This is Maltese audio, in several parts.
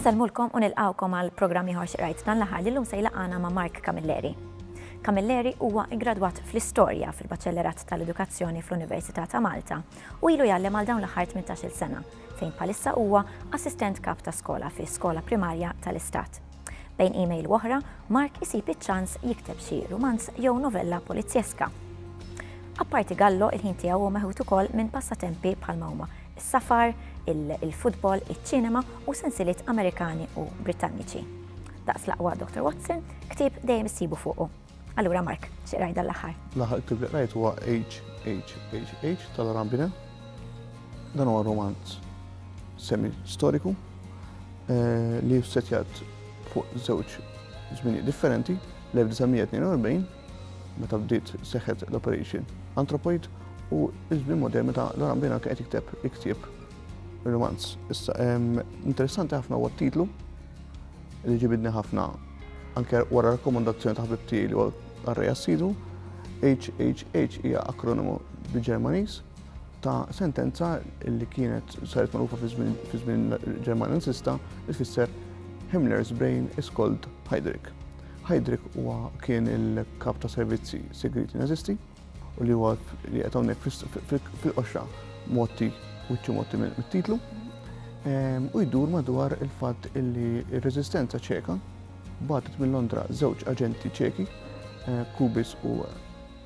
Insellmulkom u nilqgħukom għal programm ieħor xi qrajt dan l-aħħar li llum se jlaqqana ma' Mark Camilleri. Camilleri huwa iggradwat fl-Istorja fil-Baċellerat tal-Edukazzjoni fl-Università ta' Malta u ilu jgħallem għal dawn l-aħħar 18-il sena, fejn bħalissa huwa Assistent Kap ta' Skola fi Skola Primarja tal-Istat. Bejn email u oħra, Mark isib iċ-ċans jikteb xi rumanz jew novella polizjeska. Apparti Gallo, il-ħin tiegħu huwa meħud ukoll minn passatempi bħal huma is-safar, il-futbol, iċ-ċinema u sensiliet Amerikani u Britanniċi. Daqs l-aqwa Dr. Watson, ktieb dejjem issibu fuqu. Allura Mark, x'qrajt dan l-aħħar? L-aħħar kif li qrajt huwa HHHH tal-Rambina. Dan huwa romanz semi storiku eh, li setjat fuq żewġ żminijiet differenti l-1942 meta bdiet seħħet l-Operation Anthropoid u iż-żmien modern meta Laran Bena qed jikteb iktib romanz. Issa interessanti ħafna huwa t-titlu Li ġibidni ħafna, anke wara rakkomandazzjoni ta' ħbib tiegħi li huwa qarrej assidu, HHH hija akronimu bil-Ġermaniż ta' sentenza li kienet saret magħrufa fi żmien Ġermanja Nazista li tfisser Himmler's brain is called Heydrich. Heydrich huwa kien il-kap ta' servizzi segreti Nazisti u li huwa li qed hawnhekk fil-qoxra motti wiċċu motti mit-titlu ehm, u jdur madwar il-fatt illi r-reżistenza ċeka batet minn Londra żewġ aġenti ċeki eh, Kubis u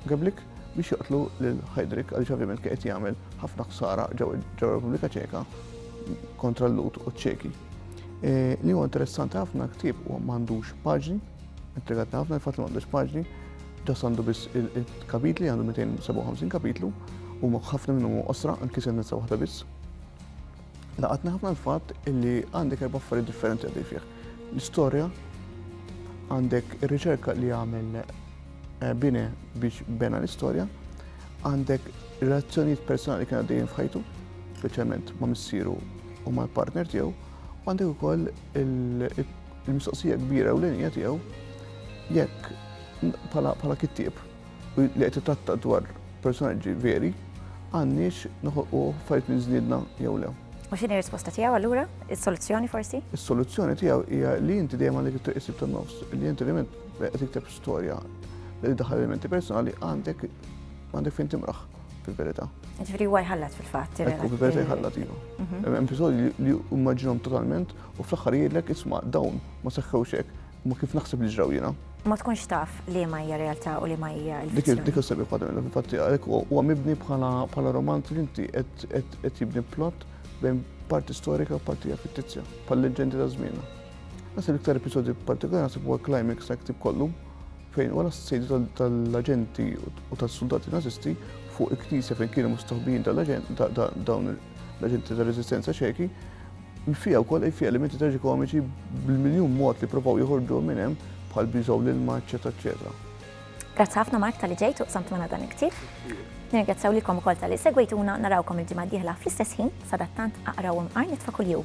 Gablik biex joqtlu lil Heidrich għaliex ovvjament qed jagħmel ħafna ħsara ġew Repubblika Ċeka kontra l-Lut u ċeki. Eh, li huwa interessanti ħafna ktieb u m'għandux paġni, Intrigatni ħafna il-fatt li m'għandux paġni, ġas għandu biss il-kapitli, għandu 257 kapitlu, u ħafna minnhom u qosra, anki se nizza waħda biss. Laqatni ħafna l-fatt li għandek erba' affarijiet differenti għaddej fih. L-istorja, għandek ir-riċerka li għamel eh, bine biex bena l-istorja, għandek relazzjonijiet personali kien għaddejjin f'ħajtu, speċjalment ma' missieru u mal-partner tiegħu, għandek ukoll Il-mistoqsija kbira u l-inja tiegħu jekk bħala kittieb li qed titratta dwar personaġġi veri għandniex noħolqu fajt minn żniedna jew le. U x'inhi risposta tiegħu allura? Is-soluzzjoni forsi? Is-soluzzjoni tiegħu hija li inti dejjem għandek it-triq isib tan-nofs, li inti element qed tikteb storja li daħal elementi personali għandek għandek fejn timraħ fil-verità. Ġifieri huwa jħallat fil-fatt. Fil-verità jħallat iva. Mhm. Hemm episodji li immaġinhom totalment U fl-aħħar jgħidlek, isma' dawn ma seħħewx hekk, imma kif naħseb li ġraw jiena. Ma tkunx taf liema hija realtà u liema hija l-fizzjoni. Dik is-sebi ħadd minnha fil-fatt għalhekk huwa mibni bħala romanz li inti qed jibni plott bejn parti storika u parti fittizja, bħal leġendi ta' żmienna. Nasib l-iktar episodju partikolari nasib huwa climax ta' ktib kollu fejn wara s-sejdu tal-aġenti u tas-soldati nazisti fuq il-knisja fejn kienu mustaħbijin dawn l-aġenti tal-rezistenza ċeki Fiha wkoll qrib xi elementi traġikomiċi bil-miljun mod li provaw joħorġuhom minn hemm bħal biżgħu l-ilma eċċetera eċċetera. Grazzi ħafna Mark talli ġejt u qsamt magħna dan il-ktieb. Nirringrazzjaw lilkom ukoll talli segwejtuna narawkom il-ġimgħa d-dieħla fl-istess ħin sadattant aqraw imqar nitfa' kuljum.